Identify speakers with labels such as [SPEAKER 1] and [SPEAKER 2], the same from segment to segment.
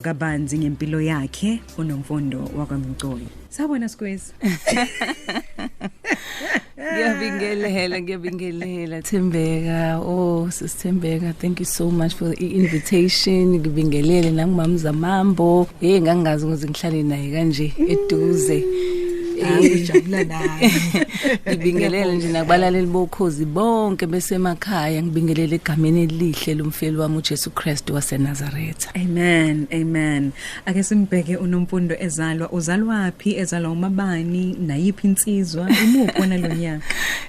[SPEAKER 1] kabanzi ngempilo yakhe unomfundo wakwamcoyi sabona squeeze
[SPEAKER 2] ngiyabingelela ngiyabingelela thembeka oh sisithembeka thank you so much for the invitation ngibingelele nangumamza mambo hey ngangazi ukuthi ngihlale naye kanje eduze
[SPEAKER 1] ngijabula naye ngibingelele
[SPEAKER 2] nje nakubalaleli bokhozi bonke besemakhaya ngibingelele egameni elihle lomfeli wami uJesu Kristu waseNazaretha Amen
[SPEAKER 1] amen ake simbheke unomfundo ezalwa uzalwaphi ezalwa umabani nayiphi insizwa imuphi wona lonyaka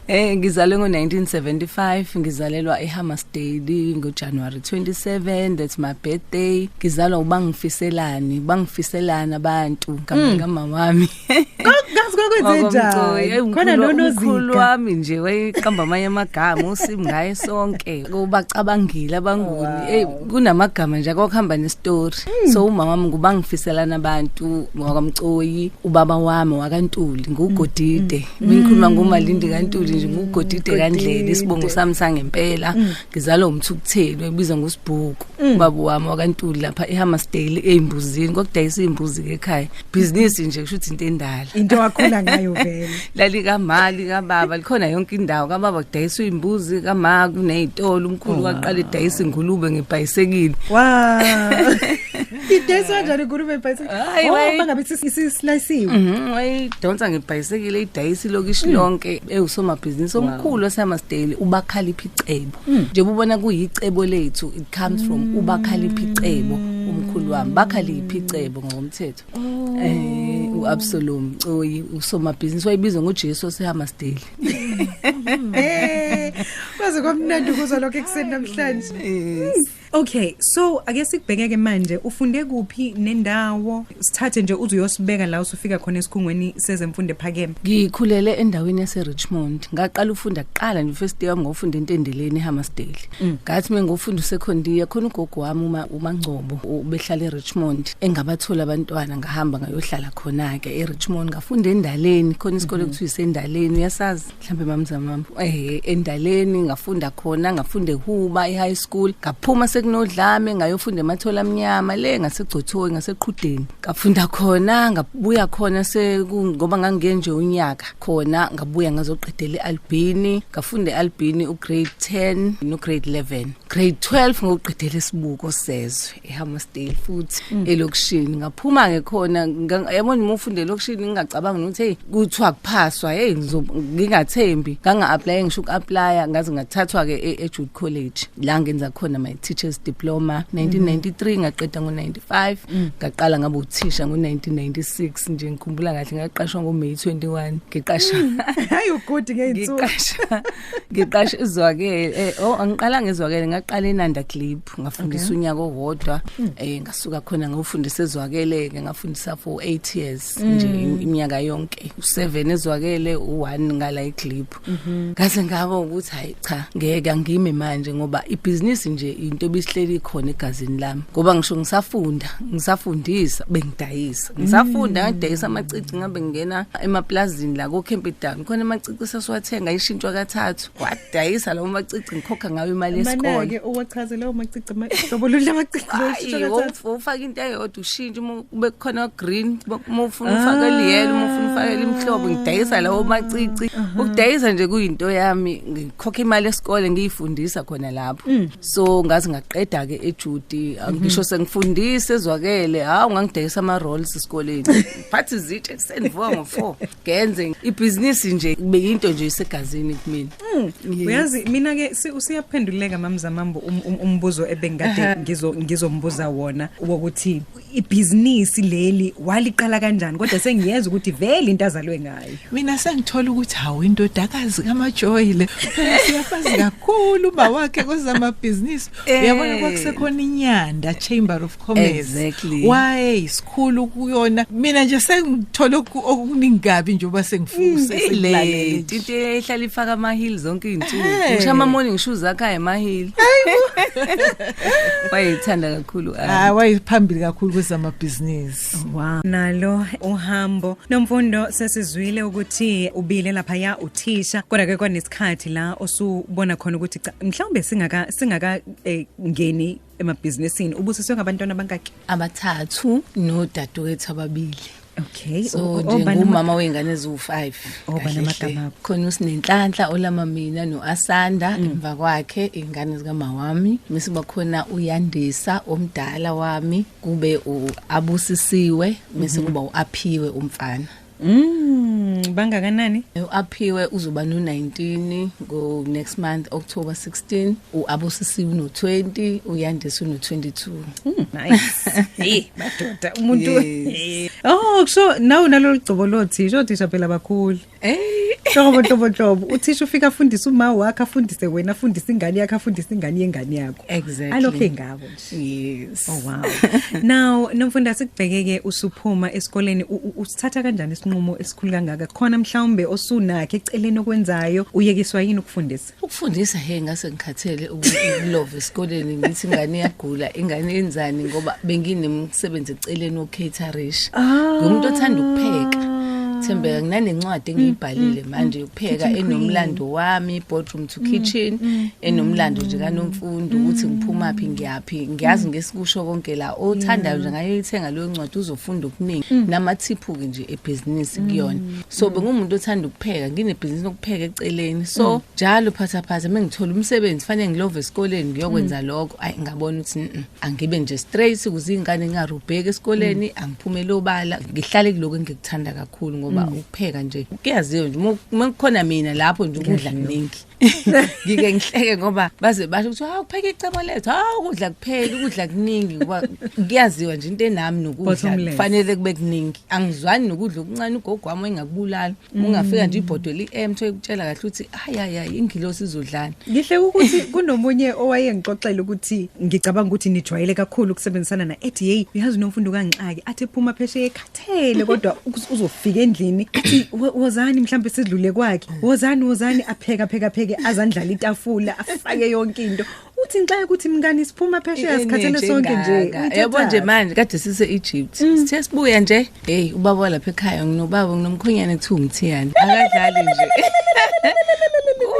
[SPEAKER 1] Eh ngizalwe ngo1975
[SPEAKER 2] ngizalelwa eHammarsdale ngoJanuary 27 that's my birthday ngizalwa ubangifiselani bangifiselana abantu kamama mm. wami Kazi kwakwenzenjani?
[SPEAKER 1] Khona nonozika. Wami
[SPEAKER 2] nje wayeqamba amanye amagama usim ngaye sonke. Ubacabangile abanguni. Hey kunamagama nje akokuhamba nestory. Hmm. So umama wami ngubangifiselana abantu wakamcoyi, ubaba wami wakantuli ngugodide. Hmm. Ngikhuluma ngomalindi kantuli nje ngugodide kandlela isibongo sami sangempela. Hmm. ngizalwa umthukutheli wayibizwa ngosibhuku mm. ubaba wami wakantuli lapha ehammersdale eyimbuzini kwakudayisa iy'mbuzi ke ekhaya bhizinisi nje kusho ukuthi into endala into wakhula ngayo
[SPEAKER 1] vele lalikamali
[SPEAKER 2] kababa likhona yonke indawo kababa kudayisa iy'mbuzi kama kuney'tolo umkhulu oh, waqala edayisa ingulube ngebhayisekile
[SPEAKER 1] idayiswa kanjani ngulube ibhayisekile Hayi, Oh, wayi- bangabe isi- isislayisiwe Mhm, wayidonsa
[SPEAKER 2] ngebhayisekile idayisa ilokishi lonke ewusomabhizinisi omkhulu wasehammarsdale ubakhalipha icebo njengoba ubona kuyicebo lethu it comes from ubakhalipha icebo umkhulu wami bakhalipha icebo ngokomthetho Eh, u-absalom coyi usomabhizinisi wayebizwa ngojesu wasehammarsdale
[SPEAKER 1] Eh, kwaze kwamnandi ukuzwa lokho ekuseni namhlanje Okay, so ake sikubhekeke manje ufunde kuphi nendawo? Sithathe nje uze uyosibeka la usufika khona esikhungweni sezemfundo ephakeme. Ngikhulele endaweni
[SPEAKER 2] yase Richmond. Ngaqala ufunda kuqala nje first year ngofunda entendeleni eHammersdale. Mm. Ngathi mm. mengofunda usecondia khona ugogo wami uma uMangcobo ubehlala eRichmond engabathola abantwana ngahamba ngayohlala khona ke eRichmond ngafunda endaleni khona isikole mm-hmm. kuthiwa isendaleni uyasazi. mhlambe mamzamam eh endaleni ngafunda khona ngafunde huba e-high school ngaphuma sekunodlame ngayofunda emathola amnyama le ngasegcothoyi ngaseqhudeni ngafunda khona ngabuya khona ngoba ngangiye nje unyaka khona ngabuya ngazoqedela e-albini ngafunda e-albini ugrade 10 nograde 11 grade 12 ngokuqedela isibuko sezwe eHammarsdale futhi mm. elokishini ngaphuma ngekhona yabona uma ufunda elokishini ngingacabanga ukuthi hey kuthiwa kuphaswa hey ngingathembi nganga apply ngisho ukuapply ngaze ngathathwa ke e-, eJude College la ngenza khona my teachers diploma 1993 mm. ngaqeda ngo95 mm. ngaqala ngabe uthisha ngo1996 nje ngikhumbula kahle ngaqashwa ngoMay 21 ngiqasha hayi ugudi
[SPEAKER 1] ngeyinsuku ngiqasha ngiqashe
[SPEAKER 2] izwakele eh, oh angiqala ngezwakele ngaqala enanda clip ngafundisa okay. unyaka owodwa mm. eh ngasuka khona ngawufundisa ezwakele ke ngafundisa for 8 years mm. nje iminyaka yonke u7 ezwakele u1 ngala eclip mm -hmm. ngase ngaba ukuthi hayi cha ngeke angime manje ngoba ibhizinisi nje into ebisihleli khona egazini lami ngoba ngisho ngisafunda ngisafundisa bengidayisa ngisafunda mm. ngadayisa amacici ngabe ngingena emaplazini la ko Kempton ngikhona amacici sasiwathenga ishintshwa kathathu wadayisa lawo macici ngikhokha ngawo imali yesikole Manake uwachaze lawo
[SPEAKER 1] macici ma- hlobo lolu lamacici Ayi, lolu wof- wofaka
[SPEAKER 2] into eyodwa ushintshe uma kube kukhona green uma ufuna ufake eliyelo uma ufuna ufake elimhlobo ngidayisa lawo macici ukudayisa nje kuyinto yami ngikhokha imali esikole ngiyifundisa khona lapho so ngazi ngaqeda-ke ejuti ngisho sengifundise ezwakele hawu ngangidayisa ama-rolls esikoleni phathi izitshe ekuseni vuka ngo-four ngenze ibhizinisi nje kube yinto nje isegazini kumina mm. yes. uyazi
[SPEAKER 1] mina ke usiyaphenduleka mamzamambo um, um, umbuzo um, ebengikade uh -huh. ngizo ngizombuza wona wokuthi ibhizinisi leli waliqala kanjani kodwa sengiyeza ukuthi vele into azalwe ngayo mina sengithola
[SPEAKER 3] ukuthi hawu indodakazi kamajoyile siyafazi kakhulu bawakhe kwezamabhizinisi eh. uyabona kwakusekhona inyanda chamber of commerce exactly.
[SPEAKER 2] why isikhulu
[SPEAKER 3] kuyona mina nje sengithola okuningi kabi nje uba sengifuse mm, sengilale
[SPEAKER 2] into ehlala ifaka ama heel zonke izinsuku ngisho ama morning shoes akha ema heel wayithanda kakhulu ah wayiphambili
[SPEAKER 3] kakhulu kwezama business wow nalo
[SPEAKER 1] uhambo nomfundo sesizwile ukuthi ubile lapha ya uthisha kodwa ke kwanesikhathi la osubona khona ukuthi mhlawumbe singaka singaka eh, ngeni emabhizinisini ubusiswe ngabantwana abangaki abathathu
[SPEAKER 2] nodadewethu ababili Okay. So
[SPEAKER 1] njengomama
[SPEAKER 2] wengane eziwu5. Obana magama.
[SPEAKER 1] Khona usinenhlanhla
[SPEAKER 2] olama mina noAsanda mm. emva kwakhe ingane zika mawami. Mse bakhona uyandisa omdala wami kube uabusisiwe mse mm-hmm. kuba uaphiwe umfana. Mm, bangakanani?
[SPEAKER 1] UAphiwe uzoba
[SPEAKER 2] no-19 ngo next month October 16, uAbusisi uno-20, uYandisa uno-22. Mm, nice. hey,
[SPEAKER 1] madoda umuntu. Yes. Oh, kusho nawu nalolu gcobo lothi, isho thisha phela bakhulu. Hey. Hlobo hlobo hlobo. Uthisha ufika afundise uma wakhe afundise wena afundise ingane yakhe afundise ingane yengane yakho. Exactly. Alokhe ngabo. Yes. Oh wow. Now nomfunda sikubhekeke usuphuma esikoleni usithatha kanjani isinqumo esikhulu kangaka? Khona mhlawumbe osunakhe eceleni okwenzayo uyekiswa yini ukufundisa? Ukufundisa he ngase
[SPEAKER 2] ngikhathele ukulove esikoleni ngithi ingane iyagula, ingane yenzani ngoba benginemsebenzi eceleni ocaterish. Ah. Ngumuntu othanda ukupheka. Thembeka nginencwadi engiyibhalile mm, mm, manje mm. pheka enomlando wami boardroom to mm, kitchen mm, enomlando mm. nje kanomfundo ukuthi ngiphuma phi ngiyaphi ngiyazi ngesikusho konke la othandayo nje ngayo ithenga leyo ncwadi uzofunda okuningi namathiphu ke nje ebusiness kuyona so bengumuntu othanda ukupheka nginebhizinisi lokupheka eceleni so njalo phatha phatha mengithola umsebenzi fanele ngilove esikoleni ngiyokwenza lokho ayi ngabona ukuthi angibe nje straight kuzingane ngingarubheki esikoleni angiphumele obala ngihlale kuloko engikuthanda kakhulu ngoba ukupheka nje kuyaziwa nje uma- uma kukhona mina lapho nje ukudla kuningi ngike ngihleke ngoba baze basho ukuthi hawu kupheka icebo lethu hawu ukudla kuphela ukudla kuningi ngoba kuyaziwa nje into enami nokudla Bottom line. kufanele kube kuningi angizwani nokudla okuncane ugogo wami engakubulala Mm. ungafika nje ibhodoli i-m thoye kutshela kahle ukuthi hayi hayi hayi ingilosi izodlani ngihle ukuthi
[SPEAKER 1] kunomunye owayengixoxela ukuthi ngicabanga ukuthi nijwayele kakhulu ukusebenzisana na ethi yeyi uyazi unomfundo kangixaki athi ephuma phesheya ekhathele kuphele kodwa uz- uzofika endlini athi "Wo- wozani mhlawumbe sidlule kwakhe wozani wozani apheka pheka pheke azandlala itafula afake yonke into uthi nxa ukuthi mngani siphuma phesheya sikhathele sonke nje Uyithathaphi? yabo nje manje
[SPEAKER 2] kade sise Egypt sithe sibuya nje hey ubaba walapha ekhaya nginobaba nginomkhonyane kuthiwa umthiyane akadlali nje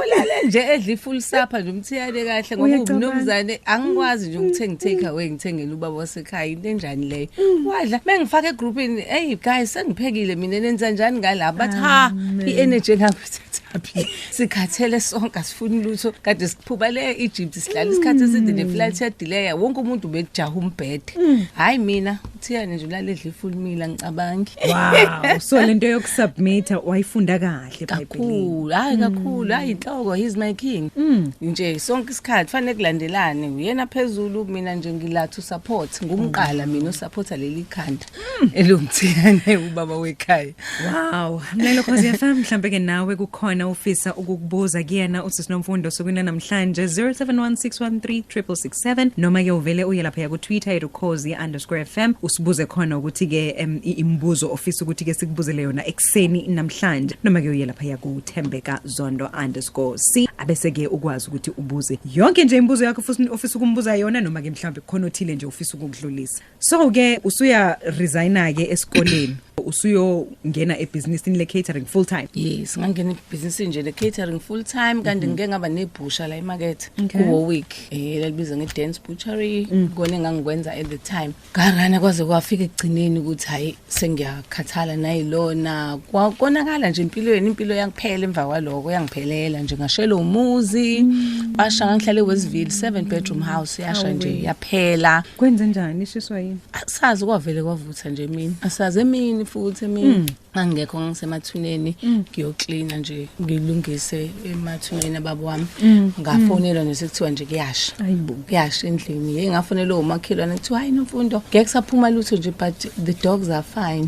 [SPEAKER 2] ulale nje edla ifull supper nje umthiyane kahle ngoba Uyacabanga. umnumzane angikwazi nje ukuthenga take away ngithengele ubaba wase ekhaya into enjani leyo mm. wadla mengifaka egroupini hey guys sengiphekile mina nenza njani ngala but ha i-energy engakuthathaphi sikhathele sonke asifuni lutho kade siphuba le egypt sihlala isikhathi mm. eside neflight yadileya wonke umuntu ubejaha umbhede mm. hhayi mina uthiyane nje ulaledla ifulmile angicabangi wow so
[SPEAKER 1] le nto yokusubmitha wayifunda kahle kahle kakhulu hayi
[SPEAKER 2] kakhulu hayi inhloko he's my king Mm. nje sonke isikhathi fanele kulandelane uyena phezulu mina nje ngilathi usupport ngumqala mina usupporta leli khanda elomthiyane ubaba wekhaya Wow,
[SPEAKER 1] mlelo Khosi FM mhlambe ke nawe kukhona ufisa ukukubuza kuyena uthi sinomfundo sokuna namhlanje 0716136667 noma ke uvele uye lapha ku Twitter erukozi_fm usibuze khona ukuthi ke em, i- imibuzo ofisa ukuthi ke sikubuzele yona ekuseni namhlanje noma ke uye lapha yakuthembeka zondo_c abese ke ukwazi ukuthi ubuze yonke nje imibuzo yakho futhi ofisa ukumbuza yona noma ke mhlawumbe khona othile nje ofisa ukukudlulisa so ke usuya resigna ke esikoleni usuyongena ebhizinisini le-catering full time yes ngangena
[SPEAKER 2] ebhizinisini nje le-catering full time kanti mhm. ngike ngaba nebhusha la emakethe kuwowick um eh, lalibiza nge-dance butchery mhm. kona engangikwenza at the time Garana kwaze kwafika ekugcineni ukuthi hayi sengiyakhathala nayilona kwakonakala nje empilweni impilo yangiphela emva kwaloko yangiphelela nje ngashelo umuzi basha ngihlale Westville 7 bedroom house yasha nje yaphela kwenze njani
[SPEAKER 1] ishiswa yini asazi kwavele
[SPEAKER 2] kwavutha nje mina asazi emini futhi emini hmm. angekho ngisemathuneni mm. ngiyoklina nje ngilungise emathuneni ababo wami mm. Mm. ngafonelwa nje kuthiwa nje kuyasha kuyasha endlini hey ngafonelwa umakhelwane kuthiwa hayi nomfundo ngeke kusaphuma lutho nje but the dogs are fine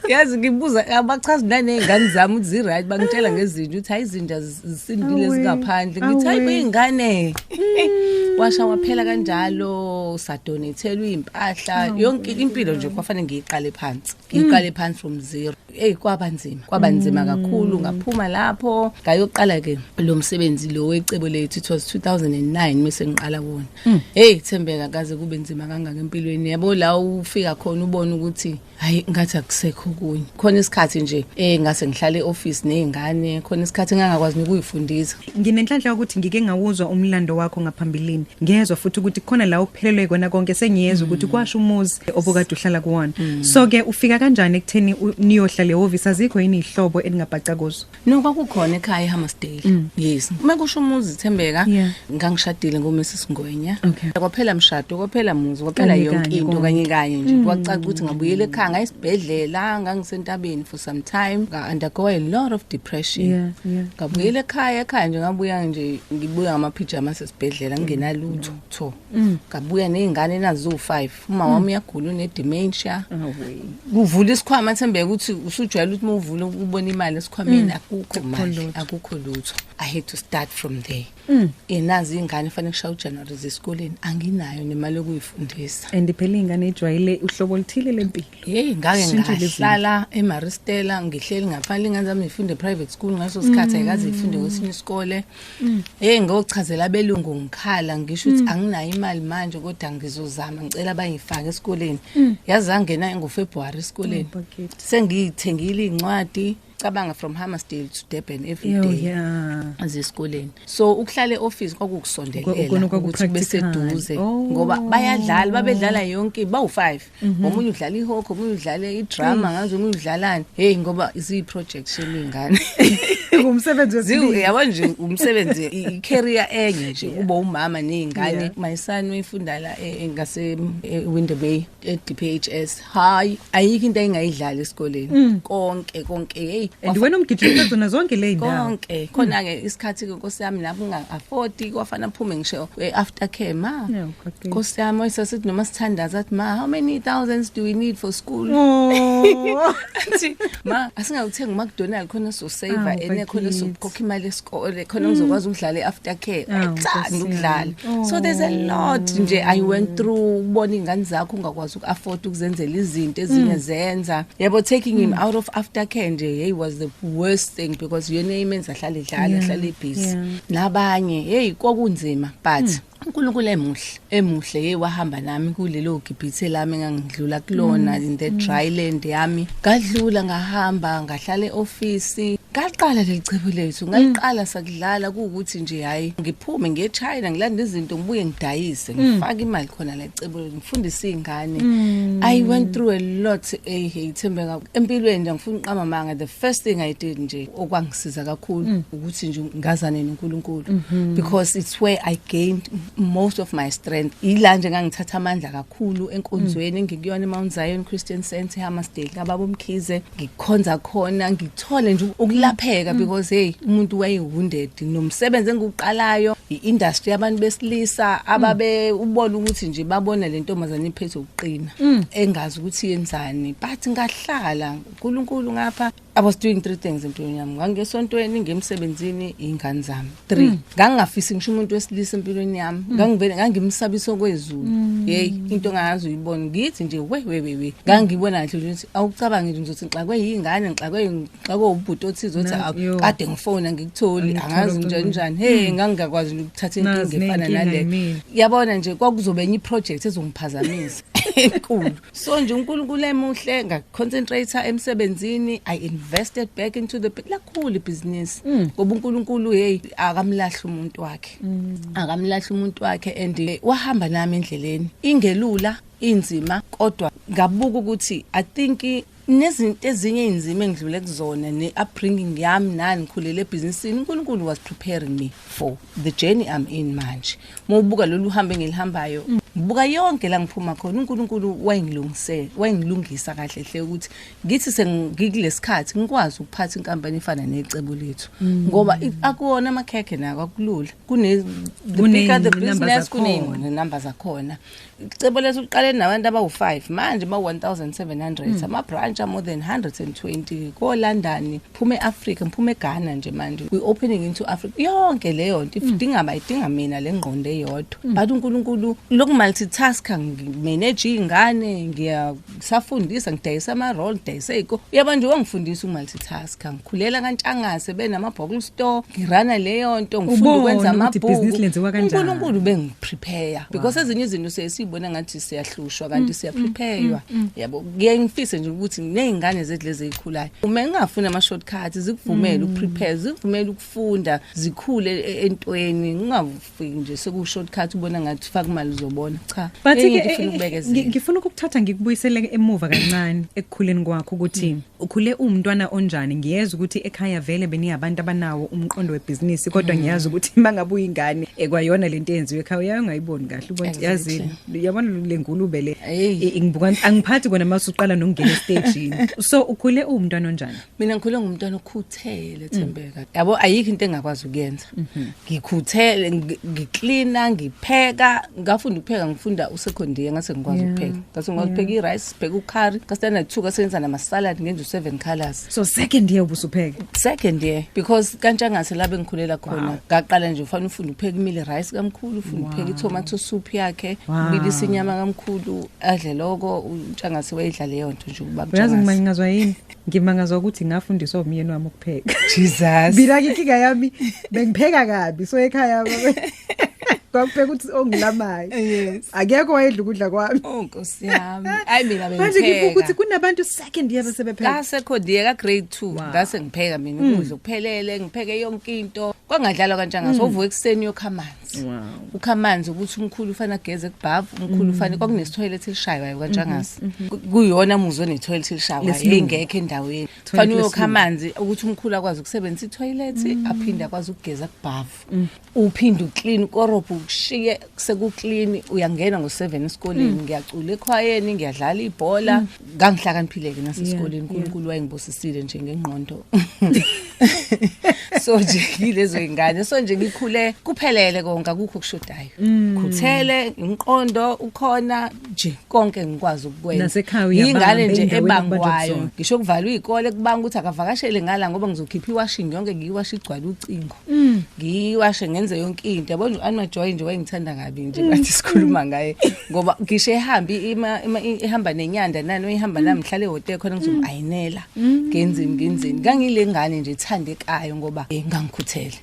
[SPEAKER 2] yazi ngibuza abachazi nanezingane zami ukuthi ziright bangitshela ngezinja ukuthi hayi izinja zisindile zingaphandle ngithi hayi kuyingane mm. washa waphela kanjalo sadonethelwa impahla yonke impilo nje kwafanele ngiyiqale phansi ngiyiqale mm. phansi from zero hey kwaba nzima kwaba nzima mm. kakhulu ngaphuma lapho ngayoqala ke lo msebenzi lo wecebo lethu it was 2009 mise ngiqala wona hey thembeka kaze kube nzima kangaka empilweni yabo la ufika khona ubona ukuthi hayi ngathi akusekho kunye khona isikhathi nje eh ngase ngihlale eoffice nezingane khona isikhathi ngangakwazi nokuyifundisa nginenhlanhla yokuthi
[SPEAKER 1] ngike ngawuzwa umlando wakho ngaphambilini ngiyezwa futhi ukuthi khona la uphelelwe kona konke sengiyezwa ukuthi mm. kwasho umuzi obokade uhlala kuwona mm. so ke ufika kanjani ekutheni niyohlala eoffice azikho yini ihlobo eningabhaca kuzo No kwakukhona ekhaya
[SPEAKER 2] eHammersdale. Mm. Yes. Uma kusho umuzi Thembeka yeah. ngangishadile ngoMrs Ngwenya. Okay. Kwaphela mshado, kwaphela muzi, kwaphela yonke into kanye kanye nje. Mm. Kwacaca ukuthi ngabuyela ekhaya ngayisibhedlela, ngangisentabeni for some time. Nga undergo a lot of depression. Yeah, yeah. Ngabuyela ekhaya, ekhaya nje ngabuya nje ngibuya ngama pyjamas esibhedlela ngingenalutho. Mm. Ngabuya nezingane nazo 5. uma wami uyagula unedementia kuvula isikhwama thembeka ukuthi usujwayele ukuthi mawuvula ubona imali esikhwameni mm. akukho mali akukho lutho i had to start from there mm. enazi ingane fanele kushaye uJanuary zesikoleni anginayo nemali yokuyifundisa and phela ingane
[SPEAKER 1] ijwayele uhlobo oluthile lempilo hey ngake
[SPEAKER 2] ngahlala eMaristela ngihleli ngaphandle ingane zami ifunde private school ngaso sikhathi mm. ayikaze ifunde kwesinye isikole Mm. Hey ngochazela abelungu ngikhala ngisho ukuthi mm. anginayo imali manje kodwa ngizozama ngicela bayifake esikoleni. Mm. Yazi angena ngoFebruary esikoleni. Oh, Sengiyithengile incwadi cabanga from Hammersdale to Durban every day. Yeah. Azesikoleni. So ukuhlale office kwakukusondelela ukuthi beseduze oh. ngoba bayadlala babedlala yonke bawu5. Mhm. omunye udlala ihoko omunye udlala idrama mm. ngazi omunye udlalani hey ngoba ziyi-projects yemingane ngumsebenzi
[SPEAKER 1] yabo nje umsebenzi
[SPEAKER 2] i-career enye nje kuba umama ney'ngane my son uyifunda la e, e, ngase-winderbay e, e-d p h s hhayi ayikho into ayingayidlali esikoleni mm. konke konke heyi and wena umgijima
[SPEAKER 1] zona zonke le ndawo konke khona-ke
[SPEAKER 2] isikhathi-ke nkosi yami lapho unga-afodi kwafana aphume ngisho after care ma Okay. Nkosi yami oyisasithi noma sithandaza athi ma how many thousands do we need for school? Oh. Athi ma asingakuthenga uMcDonald khona so save Awu, ene khona bakithi. sokukhokha imali yesikole khona ngizokwazi ukudlala iafter care. Awu, Ayithandi Nkosi ukudlala. yami. So there's a lot nje I went through ubona ingane zakho ungakwazi ukuafford ukuzenzela izinto ezinye zenza. Yebo taking him out of after care nje hey was the worst thing because yena imenza hlale dlala Yeah, hlale busy. yeah. Nabanye hey kwakunzima but uNkulunkulu emuhle emuhle ye wahamba nami kulelo gibhithe lami ngangidlula kulona mm. in the dry land yami ngadlula ngahamba ngahlala eoffice ngaqala lelicebo lethu ngaliqala sakudlala ukuthi nje hayi ngiphume ngiye eChina ngilanda izinto ngibuye ngidayise mm. ngifake imali khona lelicebo ngifundise izingane mm. i went through a lot eh ithembe empilweni ngifuna uqama manga the first thing i did nje okwang siza kakhulu mm. ukuthi nje ngazane noNkulunkulu mm-hmm. because it's where i gained most of my strength ila nje ngangithatha amandla kakhulu enkonzweni mm. ngikuyona eMount Zion Christian Center eHammarsdale kababo Mkhize ngikhonza khona ngithole nje ukulapheka mm. because hey umuntu waye wounded nomsebenzi engiqalayo iindustry yabantu besilisa ababe ubona ukuthi nje babona lentombazane iphethe ukuqina engazi ukuthi yenzani but ngahlala uNkulunkulu ngapha I was doing three things empilweni yami. Ngangesontweni, ngemsebenzini, ingane zami. Three. Mm. Ngangingafisi ngisho umuntu wesilisa empilweni yami. Mm. Ngangivele ngangimsabisa okwezulu. Mm. Hey, into ngayazi uyibona. Ngithi nje we we we we. Ngangibona nje ukuthi awucabangi nje ukuthi ngixakwe yingane, ngixakwe ngixakwe ubhuti othize othi akade ngifona ngikutholi, angazi nje njani. Hey, ngangingakwazi ukuthatha inkinga efana nale. Yabona nje kwakuzobe enye project ezongiphazamisa. enkulu so nje uNkulunkulu emuhle ngaconcentrate emsebenzini i invested back into the lakhulu ibusiness mm. ngoba uNkulunkulu hey akamlahli umuntu wakhe mm. akamlahli umuntu wakhe and eh, wahamba nami endleleni ingelula inzima kodwa ngabuka ukuthi i think Nezinto ezinye inzima engidlule kuzona ne upbringing yami nani ngikhulele ebhizinisini uNkulunkulu was preparing me for the journey I'm in manje. Mawubuka lolu hambe ngilihambayo ngibuka yonke la ngiphuma khona uNkulunkulu wayengilungisela wayengilungisa kahle hle ukuthi ngithi sengikulesikhathi ngikwazi ukuphatha inkampani efana necebo lethu mm. ngoba akuwona amakhekhe nako akulula kune the bigger the business kunenqondo number zakhona cebo lethu liqale nabantu abawu-5 manje ma-1700 mm. ama-branch a-more than 120 kolondon phuma e-afrika ngiphuma eghana nje manje we-opening into africa yonke leyo nto idinga hmm. bayidinga mina le ngqondo eyodwa hmm. but unkulunkulu lokumultitaska ngimanage iy'ngane ngiya ngisafundisa ngidayisa ama-roll ngidayisa iy'ko uyaba nje wangifundisa umaltitasker ngikhulela kantshangase benama-bokle store ngirana leyo nto ngifunda ukwenza amabhukuunkulunkulu bengiprepare because ezinye izinto siye siyibona ngathi siyahlushwa kanti mm, siyaprepaywa mm, mm, yabo kuye ngifise nje ukuthi ney'ngane zethu lezi ey'khulayo uma ngingafuni ama-short cut zikuvumele ukuprepare zikuvumele ukufunda zikhule e-, entweni ufike nje seku-shortcut ubona ngathi faka imali uzobona cha but eh, eh, eh, ngifuna ukukuthatha
[SPEAKER 1] ngikubuyisele emuva kancane ekukhuleni kwakho ukuthi hmm. ukhule umntwana onjani ngiyeza ukuthi ekhaya vele beniyabantu abanawo umqondo webhizinisi kodwa hmm. ngiyazi ukuthi mangabe uyingane ekwayona lento eyenziwe ekhaya uyayo ngayiboni kahle ubona yazini yabona lengulube le ngibuka angiphathi kona mase uqala nokungena estagini so ukhule umntwana onjani mina ngikhule ngumntwana
[SPEAKER 2] okhuthele thembeka hmm. yabo ayikho into engakwazi ukuyenza ngikhuthele ngi- ngiklina ngipheka ngafunda ukupheka ngifunda usecondiye ngase ngikwazi Yeah. ukupheka ngase ngikwazi Yeah. ukupheka i-rice sibheka ukhari kasitanda two kasenza namasalad ngenza u-seven colors so second year
[SPEAKER 1] ubusupheka second year
[SPEAKER 2] because kantshangase la bengikhulela khona ngaqala nje ufanele ufunde ukupheka imile rice kamkhulu ufunde ukupheka i-tomato soup yakhe Wow. ubilisa inyama kamkhulu adle loko utshangase wayidla leyo nto nje ukuba uyazi Mtshangase. ngimanyingazwa yini
[SPEAKER 1] ngimangazwa ukuthi ngafundiswa umyeni wami ukupheka Jesus bila
[SPEAKER 2] inkinga yami
[SPEAKER 1] bengipheka kabi so ekhaya baba kwakupheka ukuthi ongilamayo yes akekho
[SPEAKER 2] wayedla ukudla
[SPEAKER 1] kwami oh nkosi yami
[SPEAKER 2] ayi mina bengipheka manje ngibuka ukuthi
[SPEAKER 1] kunabantu second year besebepheka ngase khodiye ka grade
[SPEAKER 2] 2 ngase ngipheka mina ukudla mm. kuphelele ngipheke yonke into kwangadlalwa kanjani ngaso mm. uvuka ekseni yokhamana toilet wow. ukha amanzi ukuthi umkhulu ufana geze kubhavu umkhulu ufana mm. kwakunesi toilet elishaywayo mm-hmm, kanjangasi mm-hmm. kuyona muzo ne toilet elishaywayo ingekho endaweni fanele uyokha amanzi ukuthi umkhulu akwazi ukusebenzisa i toilet mm. aphinde akwazi ukugeza kubhavu mm. uphinde uclean korobho ukushiye seku clean uyangena ngo 7 esikoleni ngiyacula ekhwayeni ngiyadlala ibhola ngangihlakaniphile-ke nasesikoleni yeah, unkulunkulu yeah. wayengibusisile nje ngengqondo so nje yilezo ingane so nje ngikhule kuphelele konke akukho okushodayo mm. khuthele inqondo ukhona nje konke ngikwazi ukukwenza ingane
[SPEAKER 1] nje
[SPEAKER 2] ebangwayo ngisho kuvalwa izikole kubanga ukuthi akavakashele ngala ngoba ngizokhipha iwashing yonke ngiyiwasha igcwala ucingo Mm. ngiwashe ngenze yonke into yabo nje anima joy nje wayengithanda kabi nje ngathi mm. sikhuluma ngaye ngoba ngisho ehambi ima ihamba nenyanda nani uyihamba nami ngihlale hotel khona ngizombayinela mm. ngenzini ngenzini ngangile ngane nje ithande kayo ngoba eh, ngangikhuthele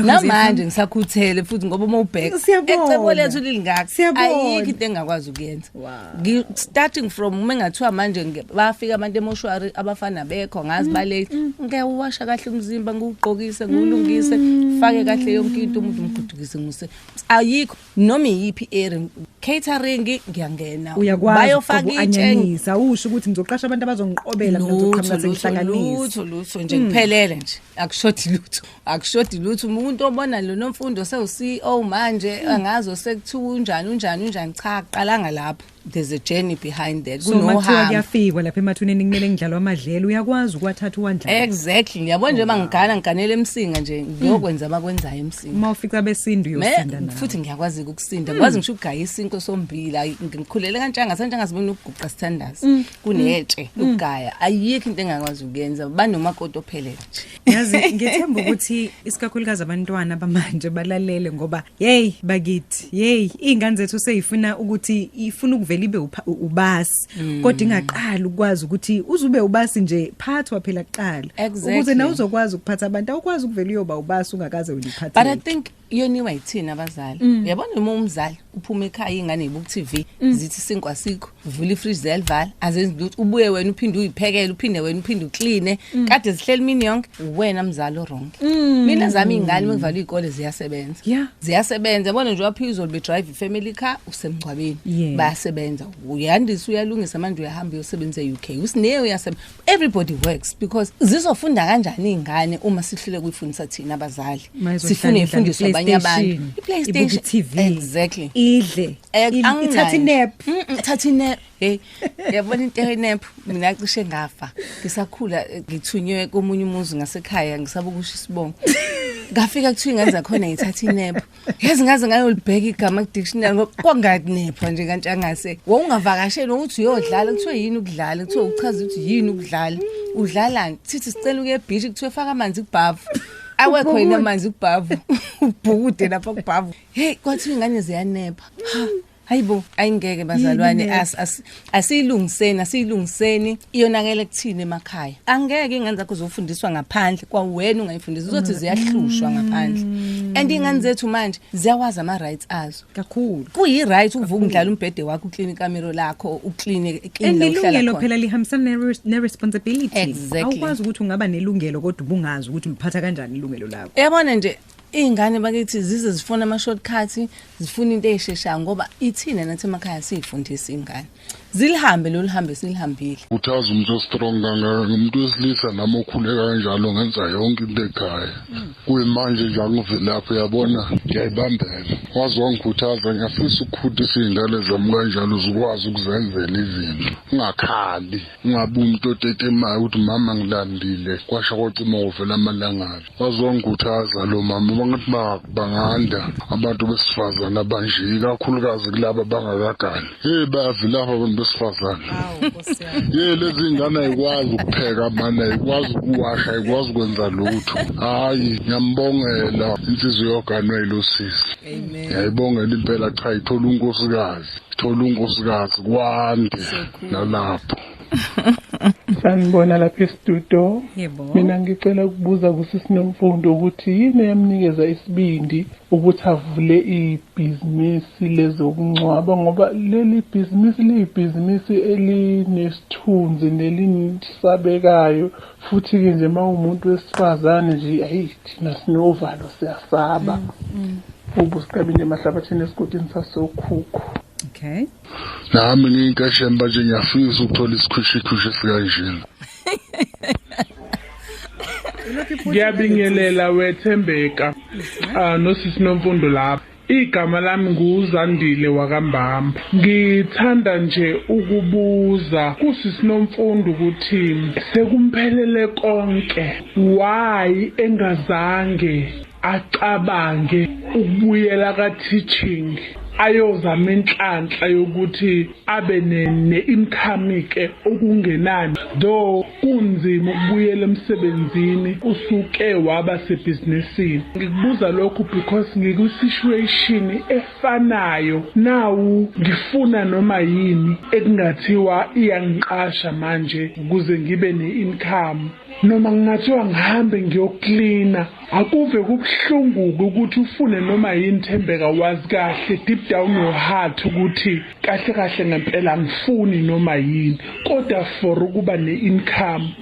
[SPEAKER 2] namanje ngisakhuthele futhi ngoba uma ubheka ecebo lethu lilingaka ayikho into engakwazi ukuyenza Wow. starting from uma ngathiwa manje bafika abantu emoshwari abafana bekho ngazi mm, bale mm. ngeke uwasha kahle umzimba ngugqokise ngulungise mm. fake kahle yonke into umuntu umgudukise nguse ayikho noma iyiphi area catering ngiyangena bayofaka
[SPEAKER 1] itshenisa usho ukuthi ngizoqasha abantu abazongiqobela mina ngizoqhamuka sengihlanganisa lutho lutho nje kuphelele
[SPEAKER 2] nje akushothi lutho akushodi lutho umuntu obona lo nomfundo sewuCEO manje hmm. angazo sekuthiwa unjani unjani unjani cha qalanga lapho there's a journey behind that kunohambo so kuyafikwa
[SPEAKER 1] lapha emathuneni kumele ngidlalwa amadlelo uyakwazi ukwathatha uwandla exactly ngiyabona nje
[SPEAKER 2] bangigana ngiganele emsinga nje hmm. ngiyokwenza abakwenzayo emsinga uma ufica besindu
[SPEAKER 1] uyosinda nawe futhi ngiyakwazi ukusinda
[SPEAKER 2] hmm. ngikwazi ngisho ukugaya isinto sombila ngikhulele kantshanga santshanga sibona ukuguqa sithandaza kunetshe ukugaya ayikho into engakwazi ukuyenza banomakoti ophelele nje yazi ngethemba
[SPEAKER 1] ukuthi isikakhulukazi abantwana bamanje balalele ngoba hey bakithi hey ingane zethu seyifuna ukuthi ifuna ukuvela ibe ubasi mm. kodwa ingaqali ukwazi ukuthi uzube ubasi nje phathwa phela kuqala exactly. ukuze na uzokwazi ukuphatha abantu awukwazi ukuvela uyoba ubasi ungakaze uliphathe but i think iyoniwa
[SPEAKER 2] yithina abazali mm. uyabona uma umzali uphuma ekhaya ingane ibuku TV mm. zithi sinkwa sikho vula ifridge ziyalivala azenzi lutho ubuye wena uphinde uyiphekele uphinde wena uphinde ucleane mm. kade zihleli mini yonke wena mzali wrong mina zami ingane mengivala izikole ziyasebenza ziyasebenza yabona nje waphizwa be drive family car usemgcwabeni bayasebenza uyandisa uyalungisa manje uyahamba uyosebenza eUK usine uyasebenza everybody works because zizofunda kanjani izingane uma sihlule kuyifundisa thina abazali sifune ifundiswe abanye abantu iPlayStation TV exactly
[SPEAKER 1] idle
[SPEAKER 2] eh,
[SPEAKER 1] ithatha inap ithatha inap hey
[SPEAKER 2] yabona into enap mina cishe ngafa ngisakhula eh, ngithunywe komunye umuzi ngasekhaya ngisaba ukusho isibongo ngafika kuthiwa ingane zakhona ngithatha inap yazi ngaze ngayolibheka igama kudictionary ngoba kwangakunepha nje kanti angase wawungavakashela ukuthi uyodlala kuthiwe yini ukudlala kuthiwe uchaza ukuthi yini ukudlala udlalani sithi sicela ukuye ebhishi kuthiwe faka amanzi kubhavu awekho yini amanzi kubhavu ubhukude lapha kubhavu hey kwathiwa ingane ziyanepha Hayibo ayingeke bazalwane as as asiyilungiseni asiyilungiseni iyonakele kuthini emakhaya angeke ingane zakho zofundiswa ngaphandle kwawena ungayifundisa uzothi mm. ziyahlushwa ngaphandle mm. and ingane zethu manje ziyawazi ama rights azo kakhulu kuyi
[SPEAKER 1] right ukuvuka
[SPEAKER 2] undlala umbhede wakho uclean ikamero lakho uclean clean elungelo phela
[SPEAKER 1] lihambisana ne responsibility awukwazi ukuthi
[SPEAKER 2] ungaba nelungelo
[SPEAKER 1] kodwa ubungazi ukuthi uliphatha kanjani ilungelo lakho yabona nje
[SPEAKER 2] Iy'ngane bakithi zize zifuna ama-shortcut zifuna into ey'sheshayo ngoba ithina nathi emakhaya siy'fundisa iy'ngane zilihambe lolu hambe silihambile uthaza umuntu ostrong
[SPEAKER 4] kangaka ngumuntu wesilisa nami okhuleka kanjalo ngenza yonke into ekhaya kuyimanje nje angivelaphi uyabona ngiyayibambela waze wangikhuthaza ngiyafisa ukukhutisa iy'ngane zami kanjalo zikwazi ukuzenzela izinto ungakhali ungabi umuntu otetemayo ukuthi mama ngilambile kwasha kwacima wovela amalangabi bazongikhuthaza lo mama bangathi banganda abantu besifazane abanje ikakhulukazi kulaba bangakagani hey bayavilapha abantu besifazane ye lezi ngane ayikwazi ukupheka mani ayikwazi ukuwasha ayikwazi ukwenza lutho hayi ngiyambongela inhliziyo yoganwe yilosisi ngiyayibongela impela cha ithola unkosikazi thola unkosikazi kwande nalapho
[SPEAKER 5] sanibona lapha estudio mina ngicela ukubuza kusisinomfundo ukuthi yini eyamnikeza isibindi ukuthi avule ibhizinisi lezokungcwaba ngoba leli bhizinisi liyibhizinisi elinesithunzi nelinisabekayo futhi-ke nje uma umuntu wesifazane nje ayi thina sinovalo siyasaba mm, mm. ubusiqabile emahlabathini esigodini sasokhukhu okay
[SPEAKER 1] nami
[SPEAKER 4] ngiyinkasheni manje ngiyafisa ukuthola isikhwishikhwishi sikanjena
[SPEAKER 5] ngiyabingelela wethembeka uh, nosisi nomfundo lapho igama lami nguzandile wakambamba ngithanda nje ukubuza kusisi nomfundo ukuthi sekumphelele konke why engazange acabange ukubuyela ka teaching ayozama inhlanhla yokuthi abe ne-income-ke okungenani though kunzima ukubuyela emsebenzini usuke waba sebhizinisini ngikubuza lokhu because ngikwi-situation efanayo nawu ngifuna noma yini ekungathiwa iyangiqasha manje ukuze ngibe ne-income noma kungathiwa ngihambe ngiyoklina Akuve kubuhlunguke ukuthi ufune noma yini Thembeka wazi kahle deep down your heart ukuthi kahle kahle ngempela ngifuni noma yini kodwa for ukuba ne-income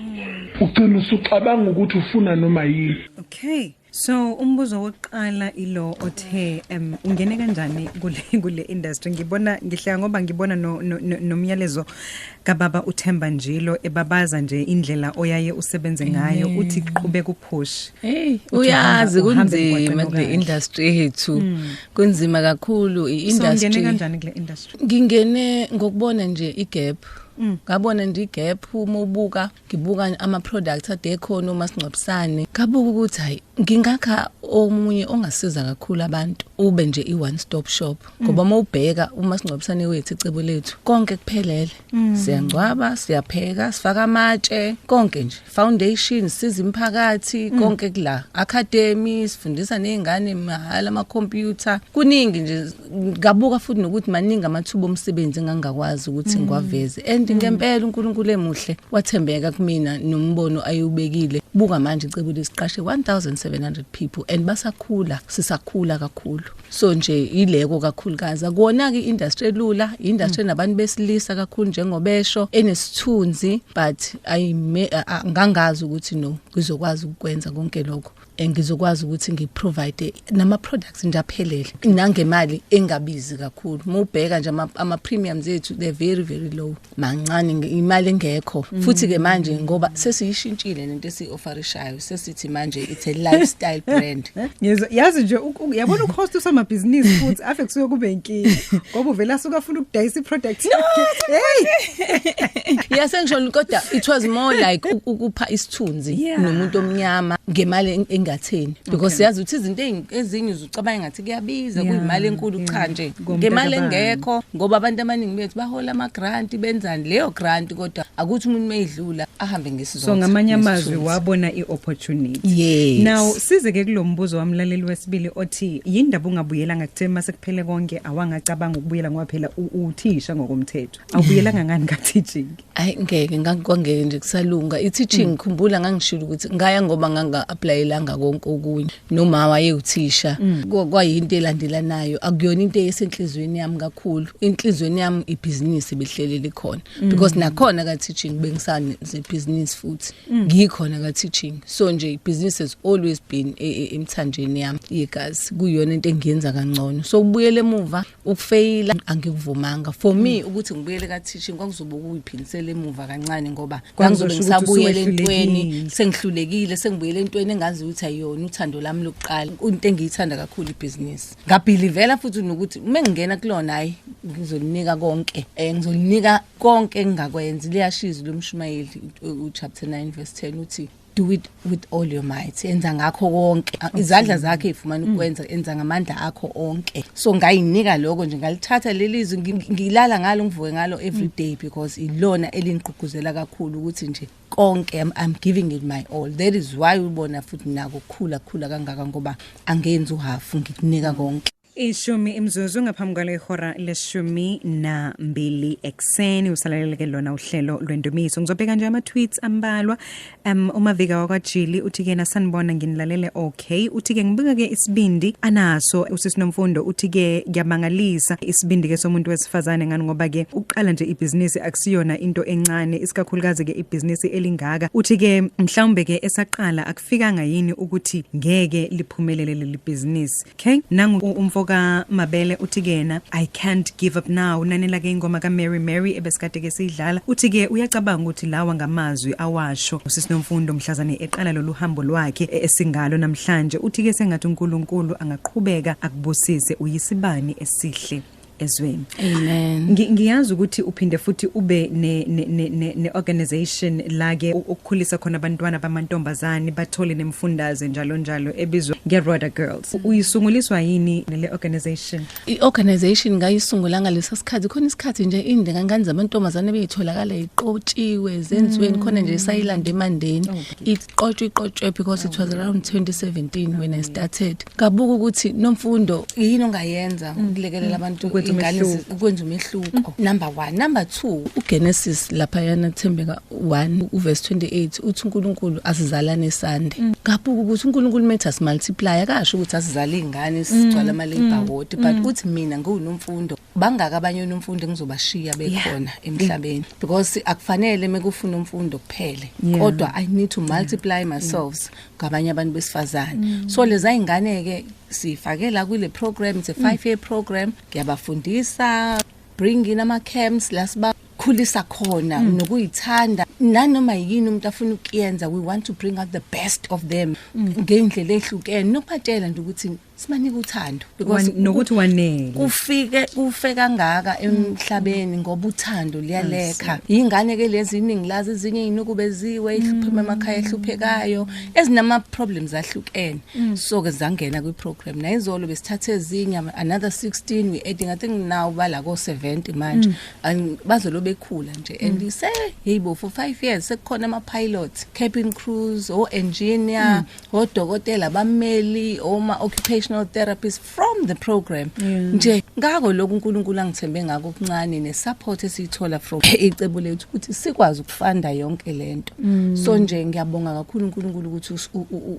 [SPEAKER 5] ugcina usucabanga ukuthi ufuna noma yini okay so
[SPEAKER 1] umbuzo wokuqala ilo othe um ungene kanjani kule kule industry ngibona ngihleka ngoba ngibona nomyalezo no, no, no kababa uThemba Njilo ebabaza nje indlela oyaye usebenze ngayo uthi qhubeka uphush hey uyazi
[SPEAKER 2] kunzima kule industry yethu hmm. kunzima kakhulu iindustry so ngene kanjani kule
[SPEAKER 1] industry ngingene
[SPEAKER 2] ngokubona nje igap hmm. ngabona nje igap uma ubuka ngibuka ama-products ade ekhona umasingcwabisane ngabuka ukuthi hhayi ngingakha omunye ongasiza kakhulu abantu ube nje i-one stop shop ngoba uma ubheka umasingcwabisane wethu icebo lethu konke kuphelele mm. siyangcwaba siyapheka sifaka amatshe konke nje foundation siza imphakathi mm. konke kula academy sifundisa nezingane mahhala ama-computer kuningi nje ngabuka futhi nokuthi maningi amathuba omsebenzi engangakwazi ukuthi mm. ngiwaveze and mm. ngempela uNkulunkulu emuhle wathembeka kumina nombono ayewubekile buka manje icebo lesiqashe 1700 people and basakhula sisakhula kakhulu so nje ileko kakhulukazi kona ke industry elula industry mm. nabantu besilisa kakhulu njengobesho enesithunzi but ayime ngangazi ukuthi no kuzokwazi ukwenza konke lokho engizokwazi ukuthi ngiprovide nama products nje aphelele nangemali engabizi kakhulu mubheka nje ama premiums ethu they very very low mancane imali engekho mm. futhi ke manje ngoba sesiyishintshile lento esiofferishayo sesithi manje it's a lifestyle brand ngizwa yazi nje
[SPEAKER 1] yabona uhost usamabhizinisi futhi afe kusuke kube inkinga ngoba uvela suka afuna ukudayisa iproduct yakhe hey yasengisho
[SPEAKER 2] kodwa it was more like ukupha isithunzi yeah. nomuntu omnyama ngemali engatheni because okay. yazi ukuthi izinto ezinye uzucabanga ngathi kuyabiza yeah. kuyimali enkulu yeah. cha nje ngemali engekho ngoba abantu abaningi bethu bahola ama grant benzani leyo grant kodwa akuthi umuntu mayidlula ahambe ngesizotha so ngamanye amazwi
[SPEAKER 1] wabona iopportunity yes now
[SPEAKER 2] size ke
[SPEAKER 1] kulombuzo wamlaleli wesibili othi yindaba ungabuyela ngakuthe mase kuphele konke awangacabanga ukubuyela ngoba phela uthisha ngokomthetho awubuyelanga ngani ka teaching Hayi ngeke
[SPEAKER 2] ngakwangeke nje kusalunga i-teaching mm. khumbula ngangishilo ukuthi ngaya ngoba nganga applyelanga konke okunye noma wayewuthisha mm. kwayinto elandelanayo akuyona into esenhlizweni yami kakhulu inhlizweni yami ibhizinisi behlelele khona mm. because nakhona ka teaching bengisane ze business futhi ngikhona ka teaching so nje ibhizinisi has always been e, e, emthanjeni yami yegazi kuyona into engiyenza kangcono so ubuyele emuva ukufeyila angikuvumanga for me mm. ukuthi ngibuyele ka teaching kwakuzobe kuyiphindisela emuva kancane ngoba ngizobe ngisabuyele entweni sengihlulekile sengibuyele entweni engazi ukuthi ayona uthando lami lokuqala into engiyithanda kakhulu ibhizinisi ngabhilivela futhi nokuthi uma ngingena kulona hayi ngizolinika konke um ngizolinika konke engingakwenzi liyashiza lomshumayeli uchapter 9 verse 10 uthi do it with all your might enza ngakho konke izandla zakhe ifumana mm. ukwenza enza ngamandla akho onke so ngayinika lokho nje ngalithatha lelizwi ngilala ngalo ngivuke ngalo every mm. day because ilona elingigqugquzela kakhulu ukuthi nje konke I'm, I'm giving it my all that is why ubona futhi nako khula khula kangaka ngoba angenzi uhafu ngikunika konke Ishumi imzuzu
[SPEAKER 1] ngaphambi kwalo ihora leshumi nambili ekuseni usalaleleke lona uhlelo lwendumiso ngizobheka nje ama-tweets ambalwa um umavika wakwajili uthi kena sanibona nginilalele okay uthi ke ngibuka-ke isibindi anaso usisinomfundo uthi ke ngiyamangalisa isibindi-ke somuntu wesifazane ngani ngoba ke uqala nje ibhizinisi akusiyona into encane isikakhulukazi-ke ibhizinisi elingaka uthi ke mhlawumbe-ke esaqala lifikanga yini ukuthi ngeke liphumelele leli business okay nangu umfoka Mabele uthi kena I can't give up now nanela ke ingoma ka Mary Mary ebesikade ke sidlala uthi ke uyacabanga ukuthi lawa ngamazwi awasho usisinomfundo mhlazane eqala lolu hambo lwakhe e-, esingalo namhlanje uthi ke sengathi uNkulunkulu angaqhubeka akubusise uyisibani esihle ezweni amen
[SPEAKER 2] ngiyazi ukuthi
[SPEAKER 1] uphinde futhi ube ne ne ne, ne organization la ke ukukhulisa khona abantwana bamantombazane bathole nemfundaze njalo njalo ebizwa nge Roda Girls uyisunguliswa yini le organization i organization
[SPEAKER 2] ngayisungula ngalesa sikhathi khona isikhathi nje inde ngangani zamantombazane beyitholakala iqotshiwe zenziweni mm. khona nje sayilanda emandeni oh, it iqotshwe iqotshwe because it was around 2017 when I started kabuka ukuthi nomfundo yini ongayenza mm. ukulekelela mm. abantu ingane ukwenza umehluko mm. number 1 number 2 uGenesis lapha yana Thembeka 1 uverse 28 uthi uNkulunkulu asizalane sande kabuka ukuthi uNkulunkulu metha simultiply akasho ukuthi asizale izingane sigcwala ama labor ward but uthi mina ngiwunomfundo bangaki abanye unomfundo engizobashiya bekhona yeah. emhlabeni yeah. because akufanele mekufuna umfundo kuphele yeah. kodwa i need to multiply yeah. myself ngabanye abantu besifazane mm. so leza ingane ke sifakela kule program it's a 5 year program ngiyabafundisa bring in ama camps lasiba ukuzikhulisa khona mm. nokuyithanda nanoma yini umuntu afuna ukuyenza we want to bring out the best of them mm. ngendlela ehlukene nokubatshela nje ukuthi sibanike uthando because Wan- nokuthi
[SPEAKER 1] wanele kufike kufe
[SPEAKER 2] kangaka emhlabeni ngoba uthando liyalekha yingane ke lezi iningi lazi ezinye inukubeziwe iphuma emakhaya ehluphekayo ezinama problems ahlukene so ke zangena kwi program nayizolo besithathe ezinye ama- another 16 we adding i think now bala ko 70 manje And bazolo bekhula nje and you say hey bo for 5 years sekukhona ama pilots cabin crews o engineer odokotela bameli oma occupational therapists from the program nje ngakho lokhu uNkulunkulu angithembe ngako okuncane ne support esiyithola from icebo lethu ukuthi sikwazi ukufunda yonke lento mm. so nje ngiyabonga kakhulu uNkulunkulu ukuthi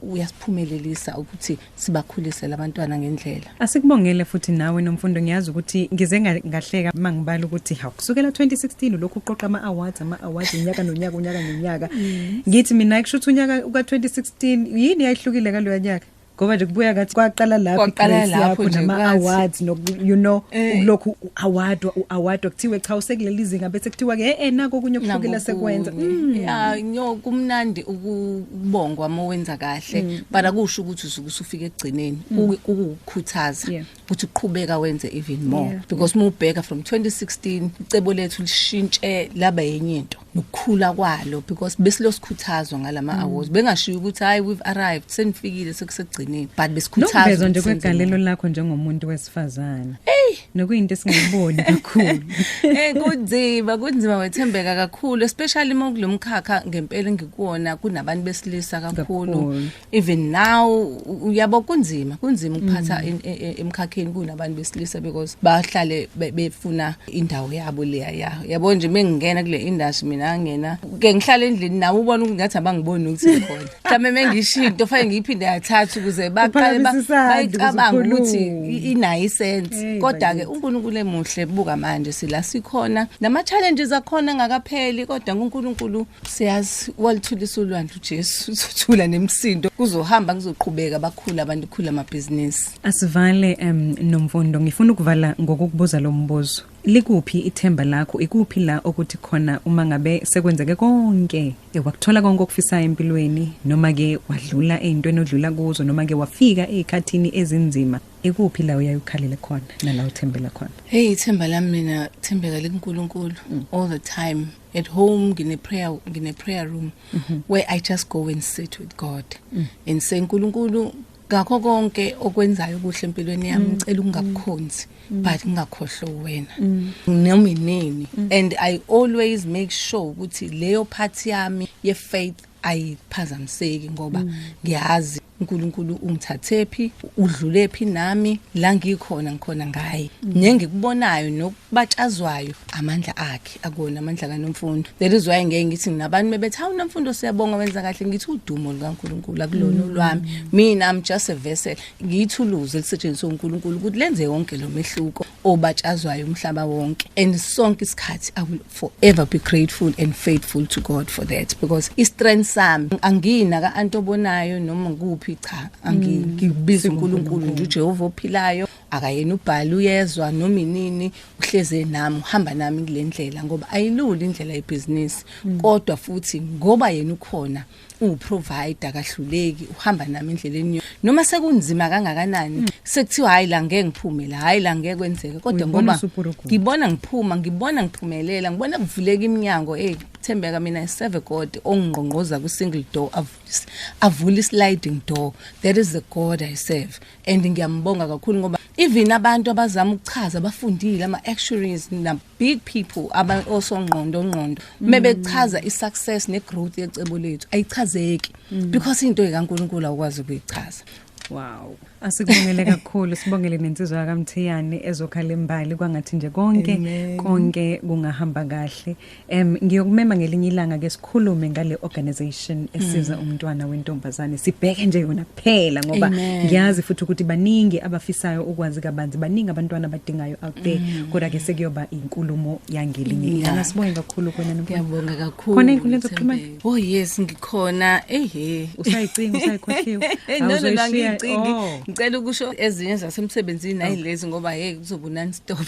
[SPEAKER 2] uyasiphumelelisa ukuthi sibakhulise labantwana ngendlela Asikubongele futhi
[SPEAKER 1] nawe nomfundo ngiyazi ukuthi ngize ngahleka mangibala ukuthi hawu kusukela 2016 lokhu uqoqa ama awards ama awards unyaka nonyaka unyaka nonyaka mm. ngithi mina kusho ukuthi unyaka uka 2016 yini yayihlukile kaloya nyaka ngoba nje kubuya ngathi kwaqala lapho kwaqala lapho nje ama awards no you know eh. ukulokhu award award kuthiwe cha usekuleli izinga bese kuthiwa ke eh nako okunye okuhlukile sekwenza mm. ya nyo
[SPEAKER 2] kumnandi ukubongwa uma wenza kahle mm. but akusho ukuthi usufika ekugcineni mm. kukukhuthaza yeah. ukuthi uqhubeka wenze even more yeah. because uma ubheka from 2016 icebo lethu lishintshe laba yenye into nokukhula kwalo because besilosikhuthazo ngalama mm. awards bengashiyo ukuthi hayi we've arrived senifikile sekusegcineni but besikhuthazwa nokuvezwa nje kwegalelo
[SPEAKER 1] lakho njengomuntu wesifazane hey nokuyinto esingayiboni kakhulu hey kunzima
[SPEAKER 2] kunzima wethembeka kakhulu especially uma kulomkhakha ngempela ngikuwona kunabantu besilisa kakhulu even now uyabo kunzima kunzima ukuphatha mm. e, e, emkhakheni kunabantu besilisa because bahlale befuna indawo yabo leya ya yabo nje mengingena kule industry mina ngena ke ngihlala endlini nawe ubona ukuthi ngathi abangiboni ukuthi khona mhlawumbe mengishiya into fanele ngiyiphinde yathatha ukuze baqale bayicabanga ukuthi inayi sense kodwa ke uNkulunkulu emuhle buka manje sila sikhona nama challenges akhona ngakapheli kodwa uNkulunkulu siyazi walithulisa ulwandle uJesu uzothula nemsindo kuzohamba kuzoqhubeka bakhula abantu khula amabhizinisi asivale um
[SPEAKER 1] nomfundo ngifuna ukuvala ngokukubuza lo mbuzo likuphi ithemba lakho ikuphi la okuthi khona uma ngabe sekwenzeke konke ewakuthola konke okufisayo empilweni noma ke wadlula ezintweni odlula kuzo noma ke wafika ezikhathini ezinzima ikuphi la uyayukhalele khona nala uthembela khona hey ithemba lami
[SPEAKER 2] mina thembeka likuNkulunkulu mm. all the time at home ngine prayer ngine prayer room mm -hmm. where i just go and sit with god mm. and say nkulunkulu ngakho konke okwenzayo kuhle empilweni yami mm. ngicela ungakukhonzi mm. but ngingakhohlwa wena mm. noma inini and i always make sure ukuthi leyo part yami ye faith ayiphazamiseki ngoba ngiyazi uNkulunkulu ungithathephi udlulephi nami la ngikhona ngikhona ngaye nengikubonayo nokubatshazwayo amandla akhe akona amandla kaNomfundo that is why ngeke ngithi nginabantu bebethi hawu Nomfundo siyabonga wenza kahle ngithi udumo lukaNkulunkulu akulona olwami mina i'm just a vessel ngiyithuluzi elisetshenziswa uNkulunkulu ukuthi lenze yonke lo mehluko obatshazwayo umhlaba wonke and sonke isikhathi i will forever be grateful and faithful to god for that because i-strength sami angina ka-anti obonayo noma kuphi cha angina mm. ngibiza unkulunkulu nje ujehova ophilayo akayena ubhali uyezwa noma inini uhleze nami uhamba nami kule ndlela ngoba ayilula indlela yebhizinisi mm. kodwa futhi ngoba yena ukhona unguprovider kahluleki uhamba nami endleleni yo noma sekunzima kangakanani mm. sekuthiwa hayi la ngeke ngiphume la hayi la ngeke kwenzeke kodwa ngoba ngibona ngiphuma ngibona ngiphumelela ngibona kuvuleka iminyango hey thembeka mina iseve god ongqongqoza ku single door avulise avule sliding door that is the god i serve and ngiyambonga kakhulu ngoba even abantu abazama ukuchaza bafundile ama actuaries big people aba osongqondo ngqondo mebechaza i success ne growth yecebo lethu ayichazeki because into ekaNkuluNkulu awukwazi ukuyichaza Wow.
[SPEAKER 1] Asikubongele kakhulu sibongele nensizwa yakamthiyane ezokhala imbali kwangathi nje konke Amen. konke kungahamba kahle. Em ngiyokumema ngelinye ilanga ke sikhulume ngale organization esiza umntwana wentombazane sibheke nje yona kuphela ngoba ngiyazi futhi ukuthi baningi abafisayo ukwazi kabanzi baningi abantwana abadingayo out there mm. kodwa ke sekuyoba inkulumo yangelinye ilanga sibonge kakhulu kuwena ngiyabonga kakhulu khona
[SPEAKER 2] inkulumo zokuxhumana
[SPEAKER 1] oh yes
[SPEAKER 2] ngikhona ehe usayicinga
[SPEAKER 1] usayikhohliwe awuzoshiya ngicingi
[SPEAKER 2] oh. ngicela ukusho ezinye zasemsebenzini nayilezi oh. ngoba hey kuzoba non stop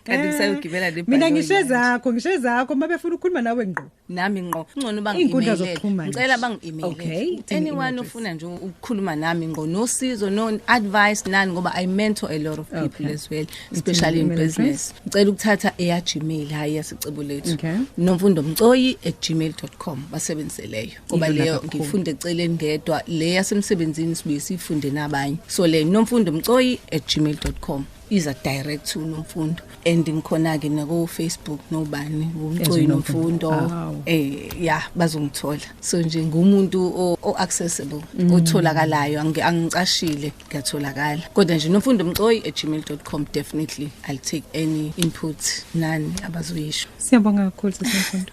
[SPEAKER 2] kanti kusayogibela le mina ngishe zakho
[SPEAKER 1] ngishe zakho mabefuna ukukhuluma nawe ngqo nami ngqo ngcono
[SPEAKER 2] Iy'nkundla bangi-emailele zokuxhumana ngicela nje. bangi-emailele Okay, ukuthi any anyone email ofuna nje ukukhuluma nami ngqo nosizo no advice nani ngoba i mentor a lot of people Okay. as well especially in email address? business ngicela ukuthatha eya gmail hhayi yasicebo lethu Okay. nomfundo mcoyi at gmail com basebenzise leyo ngoba Ilula leyo kakhulu. ngifunde eceleni ngedwa le yasemsebenzini sibuye siyifunde nabanye so le nomfundo mcoyi at gmail com iza direct to nomfundo and ngikhona ke nako Facebook nobani umcoyi nomfundo eh yeah bazongithola so nje ngumuntu o accessible mm. otholakalayo angicashile ngiyatholakala kodwa nje nomfundo mcoyi @gmail.com definitely i'll take any input nani abazoyisho siyabonga kakhulu sesifundo